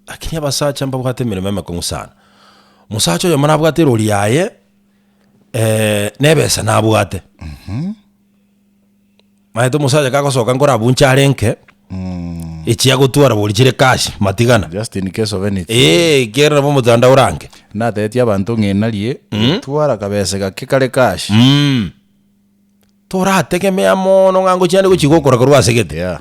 Lakini abasacha mbabwate emeremo emekong'u sana. Omosacha oyomo nabwate erori yaye, nebesa nabwate. Maete omosacha kagosoka nkore abwo nche arenke, echi agotwara bori chire cash, matigana. Just in case of anything. Eeh, kere nabo omotandao orange. Natebetie abanto ng'inarie, twara akabesa gake kare cash. Torategemea mono ng'a ngochia ande gochi gokora korwa ase egete. Yeah.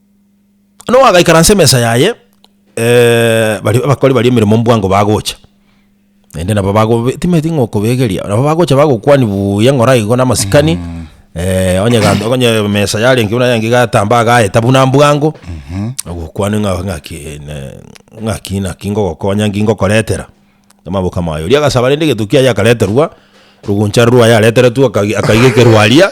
Noa agaikaransa emesa yaye, baria abakori baria emeremo mbwango bagocha, naende nabo bagobe timanyeti ng'a okobegeria, nabo bagocha bagokwani buuya ng'ora igo na amasikani onye gento onye emesa yarenge buna eyanga egatamba agaeta buna mbwango, agokwane ng'a ng'aki ne ng'aki naki ngogokonya nki ngokoretera, amaboko amaye. Oria agasaba rende egento kiaye akareterwa, rogoncha rwaye areteretwe akagi akaiga ekerwaria.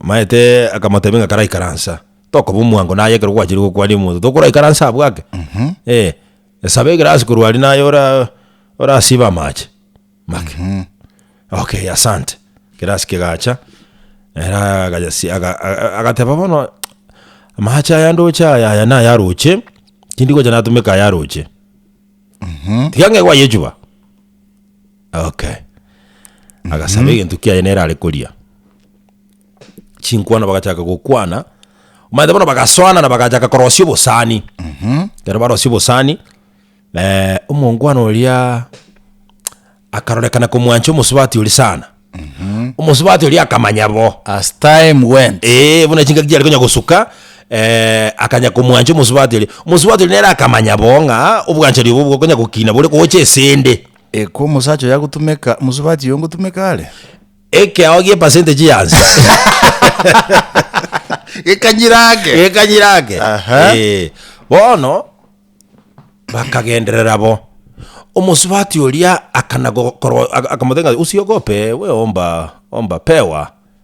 Omanyete akamotebia ng'a karaikaransa, tokoba omwango naye ekero gwachire gokwania omonto tokoraikaransa abwo ake eh, esaba egerasi korwa aria naye ora orasibe amache make okay asante. Egerasi kegacha ere agayasi aga aga agateba bono amache aya ndoche aya aya naya roche, tindigocha natomeka aya aroche tiga ng'e gwayechuba. Okay. Agasaba egento kiaye nere are koria. Chinkwano bagachaka gokwana. Omanyete bono bagasoana na bagachaka korosia obosani. Ekero barosia obosani, eh, omongwana oria akarorekana komwancha omosubati oria sana. Omosubati oria akamanya bo. As time went. Eeh, buna chingaki chiare konya gosuka, eh, akanya komwancha omosubati oria. Omosubati oria nere akamanya bo ng'a obwanchani obo bokonya gokina bore gocha esende. Ekwo omosacha oyo agotumeka, omosubati oyo ngotumeka are? Ekeao gie percentage yansi. Gekanyira ake. Gekanyira ake. Aha. Eh, bono bakagenderera bo. Omosubati oria akana go- korwa- aka- akamotenga, usiogope, we omba, omba, pewa.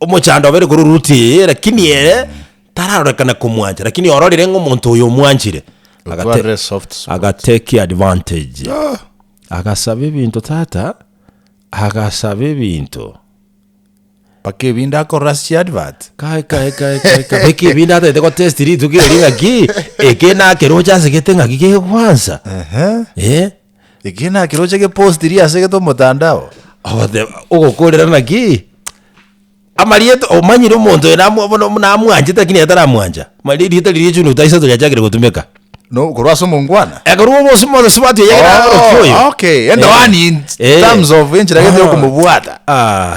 Omochando obeire korwa Ruti, lakini ere tararorekana komwancha, lakini ororire ng'a omonto oyo omwanchire, agate- Otwarire soft spot. agateki advantage. Ah, Agasaba ebinto tata, agasaba ebinto. mpaka ebinde akorora ase chiadvert Kai, kai, kai, kai, kai. Beki ebinde atete gotest rituko eri ng'aki, eke nake roche asegete ng'aki kegekwansa. Ehe. Eh? Eki nakiroche gepostiri ase gete omotandao. Ogoteba, ogokorera naki? Amarieta, omanyire omonto oyo namwa- bono buna amwanchete lakini yataramwancha. Mari erieta riria June taisato riachakire gotumeka. No, korwa ase omongwana? Eh, korwa obose mose sibatwe yaye nagarokia oyo. Oh, okay. Ende Eh. one in Eh. terms of enchera gete Ah. yokomobwata. Ah.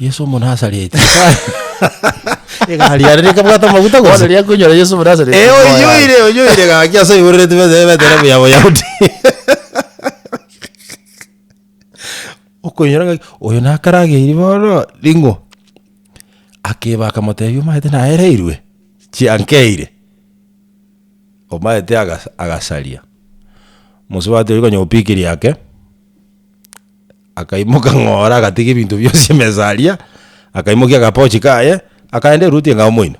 Yeso Omonasareti. Egari yare nekabwate amaguta Bono gose? riria akoinyora Yeso Omonasareti, Eh, moyo aria. oyoire, oyoire gaki ase oiborereti bete ebetera buya Boyahudi. Okoinyora ngaki, oyo nakarageiri bono, ring'o. Akeba akamotebia omaete naereirwe, chiankeire. Omaete agas- agasaria. Mosubati oria konya opikiri yake. akaimoka ng'ora agatiga ebinto bionsi emesa aria, akaimokia agapochi kaye, akaenda eruti enga omoino.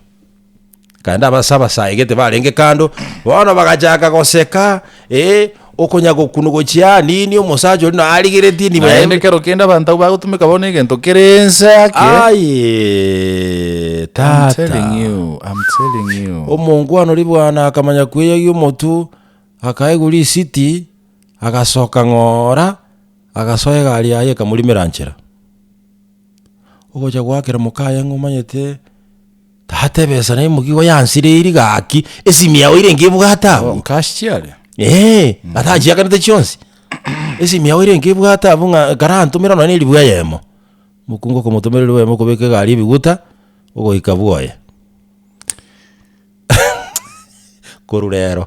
Akaenda abase abasaegete barenge kando, bono bagachaka goseka, eh, okonya gokunu gochia aa nini omosacha oria nonya arigeretie nibo yaye Naende ekero kende abanto abwo bagotumeka bono egento kere ense ake. Aye I'm tata telling you, I'm telling you. omonkwana oria bwana akamanya kweyagia omotwe akaigwa risiti Agasoka ng'ora, agasoa egari yaye ekamorimera nchera. Ogocha goakera mokaye ng'a omanyete tata ebesa naye mokia igo yansireiri gaki, esimi yao ere nkebwate Oh, abwo. cash chiaria? Eeh, atachiakanete chionsi. Esimi yao ere nkebwate abwo ng'a ekero antomera nonye na eribuyu eyemo. Mokungu okomotomera eribuyu eyemo okobeka egari ebiguta, ogoika bwoye. Korwa rero.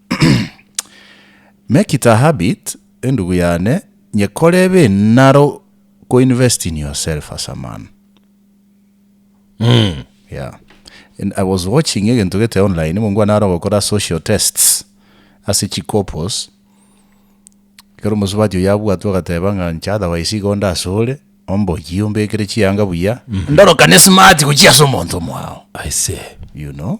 Make it a habit, endugu yane, nyekore ebe enaro ko invest in yourself as a man. Mm. Yeah. And I was watching egento gete online, mongwana naro gokora social tests ase chikopos. Kero omosubati oyo abwatwe agateba ng'a nche otherwise igo onde asore, omboyie ombekere chianga buya. Ndorokane smart gochia ase omonto omwao. I see. You know?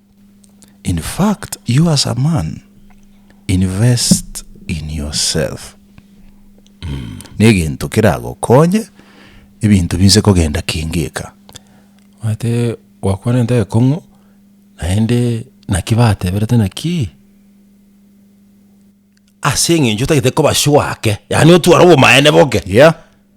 In fact you as a man invest in yourself negento keragokonye ebinto binse kogenda kengeka. Omanyete gwakwanete ekong'u naende naki bateberete naki ase eng'encho otagete koba sure ake yaani otware obomaene boke. Yeah.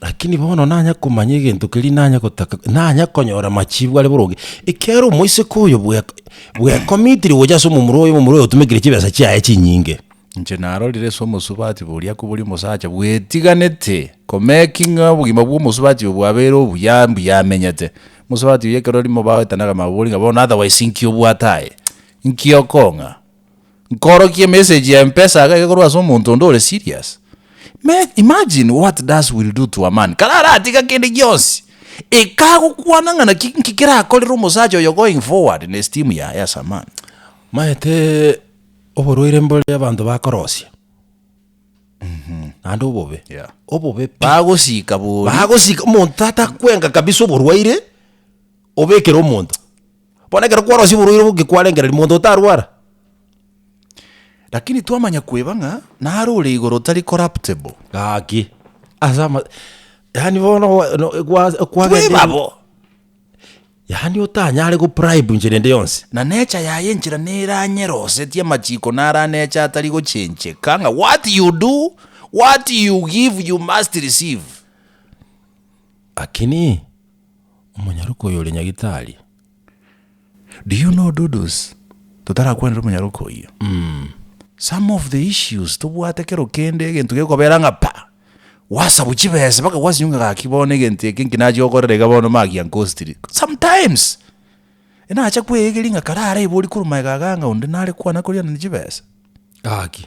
Lakini bono nanya komanya egento keria nanya gotaka, nanya konyora machiibu are boronge, ekiagera omoiseke oyo bwe- bwekomitiri gocha ase omomura oye, omomura oyo otomekire chibesa chiaye chinyinge. Inche narorire ase omosubati boria kobori omosacha bwetiganete komeki ng'a obogima bw'omosubati oyo bwabeire obuya mbuya amenyete. Omosubati oyo ekero rimo bagoetanaga mabori ng'a bono otherwise inki obwate aye? Inki okong'a? Nkorokie message ya mpesa iga ekorwa ase omonto onde ore serious. Me imagine what does will do to a man kare aratiga kende gionsi ekagokwana ng'a naki nki kerakorere omosacha oyo going forward na esteem yaye as a man. Maete oborwaire mbore abanto bakorosia naende obobe Yeah. obobe pi. Bagosika bori. Bagosika omonto tata kwenga kabisa oborwaire obekere omonto. Bono ekero kwarosia oborwaire oboke kwarengereria, monto otarwara? Lakini twamanya kweba ng'a nare ore igoro otari corruptible. Gaki. Ase ama... Yaani bono gwa- no- gwa- Tweba kwagenda- bo. Yaani otanyare go bribe inchera ende yonsi. Na nature yaye enchera neranyerosetie amachiko naro anecha atari gochencheka ng'a what you do, what you give you must receive. Lakini. Omonyaroke oyo ore nyagitari. Do you know Dudus? Totarakwanera omonyaroke oyio. Some of the issues tobwate kero kende egento gekobera ng'a pa! Gwasabu chibesa mpaka gwasinywa ng'a gaki bono egento eke nki nache gokorera iga bono maki giankostire. Sometimes! Enache kweyegeria ng'a kare araibori korwa magega aga ng'a onde nare kwana korianani chibesa. Gaki.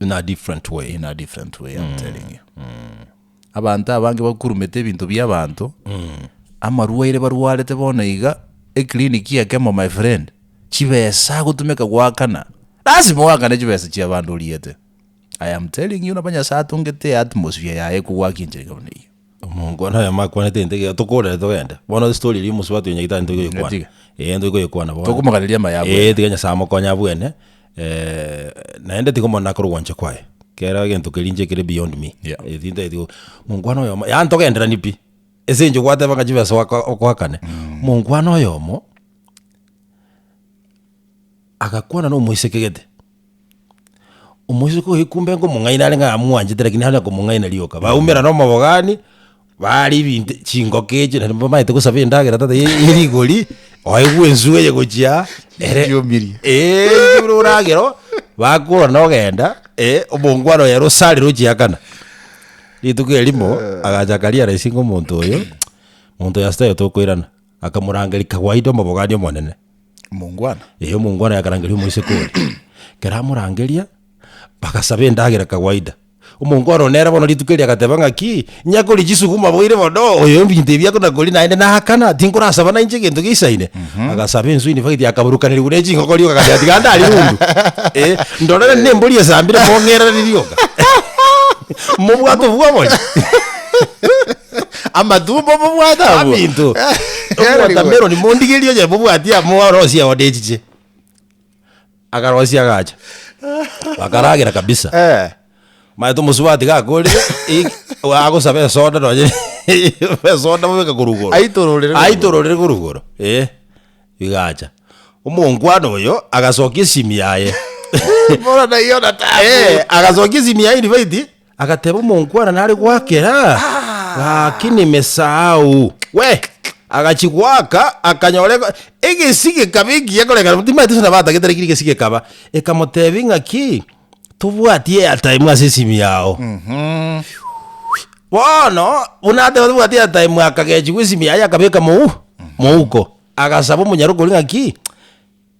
In a different way. in a different way I'm telling you. Abanto abange bakurumete ebinto bia abanto amarwaire barwarete bono iga ekliniki ekemo my friend chibesa agotumeka goakana lasima oakane chibesa chia abanto oriete I am telling you nabo Nyasaye atongete eatmosphere yaye ekogwakinchera iga buna eye. Omongwana oye amakwanete egento ekio, tokorere togende. Bono estory eria omosubati oyo nyagete aye nigo tokoyekwana. Tiga. Eeh nigo tokoyekwana bono. Tokomoganeria amaya abwo. Eeh tiga Nyasaye amokonye abwene, naende tiga omone akore ogwancha kwaye. Kera egento keria inche kere beyond me. Yeah. Eeh tintageti go, mongwana oyomo, yaani togenderani pi. Ase eng'encho gwateba ng'a chibesa oaka okoakane. Mongwana oyomo, agakwana nomoiseke gete. Omosike oye kumbe nkomong'aini are ng'a amwanchete lakini nare komong'aina rioka. Baumera na omobogani, baara ebinto chingoka echi naende bamaete gosaba endagera tata ye ye rigori, oegwe enswe eye gochia ere Chiomirie. Eeeh buna oragera oo, bakora na ogenda, eh, omongwana oye ere osarire ochiakana. Rituko erimo, agacha akaria rais ng'a omonto oyo, monto oyo asita aye tokoirana. Akamorangeria kawaida omobogania omonene. Omongwana. Ee, omongwana yakarangeria omoiseke oria. Ekero amorangeria, bagasaba endagera kawaida. Omongwana one nere bono rituko erio agateba ng'aki, nyakoria chisuguma boire bono, oyo ebinto ebi akona koria naende naakana, tinkorasaba nainche egento gisaine. Agasaba ensu in fact akaburukanerigwa ne chingoko rioka agateba tiga ndare rundu. Ee, ndorere ne embori esambire mong'erere rioka. Mobwate obwo obonya. Amatumbo mobwate abwo. Abinto. Erigwe. Omotameroni mondigerie oye mobwati amo orosia one echiche. Akarosia agacha. Bakaragera kabisa. Eh. Manye tomosubati iga akorire eh, agosaba esoda nonye esoda mobeka korwa igoro. Aitororere korwa Aitororere korwa igoro. Eh. Igacha. Omonkwana oyo agasokia esimi yaye. Bora naiyo natambwe. Eh, agasokia esimi yaye indibaiti. Agateba, Omonkwana nare goakera gaki nemesao. Agachia goaka, akanyora egesi gekaba ekiya, koreng'ana bo timaete ase nabatagete, lakini egesi gekaba. Ekamotebia ng'aki, Tobwati airtime ase esimi yao. Bono buna ateba tobwati airtime akagechigwa esimi yaye akabeka mouko. Agasaba omonyara okori ng'aki.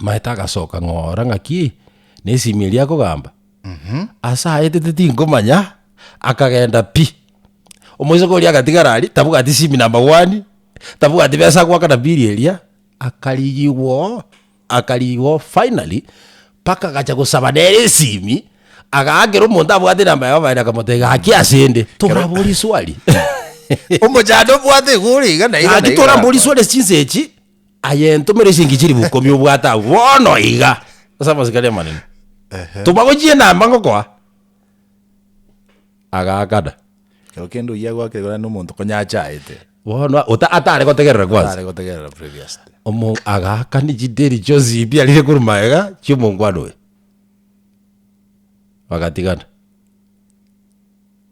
Maete agasoka ng'ora ng'aki nesimi eria akogamba ase aetete tinkomanya akagenda pi omoiseke oria agatigara aria tabwati simi na amagwani tabwati besa agoakana biri eria akarigigwoo akarigigwoo finally mpaka agacha gosaba nere esimi agaakera omonto abwate enamba yaye oboyere akamotebia gaki asende toraborie swali Omochando obwate iga ore iga na iga na gaki iga toramborie arakore. swali ase chinsa echi Aye entomere ase engencho eria bokomi obwate abwo bono iga ase amasikani amanene. Ehe. Tobagochie enamba ngokoa. Agaakana. Ekero kende oyio agoakire korana na omonto konya achaete, Bono ota- atare gotegerera kwansa. tare gotegerera previous day. Omo agaakana chideri chionsi ebi arire korwa magega chi'omongwana oyo. Bagatigana.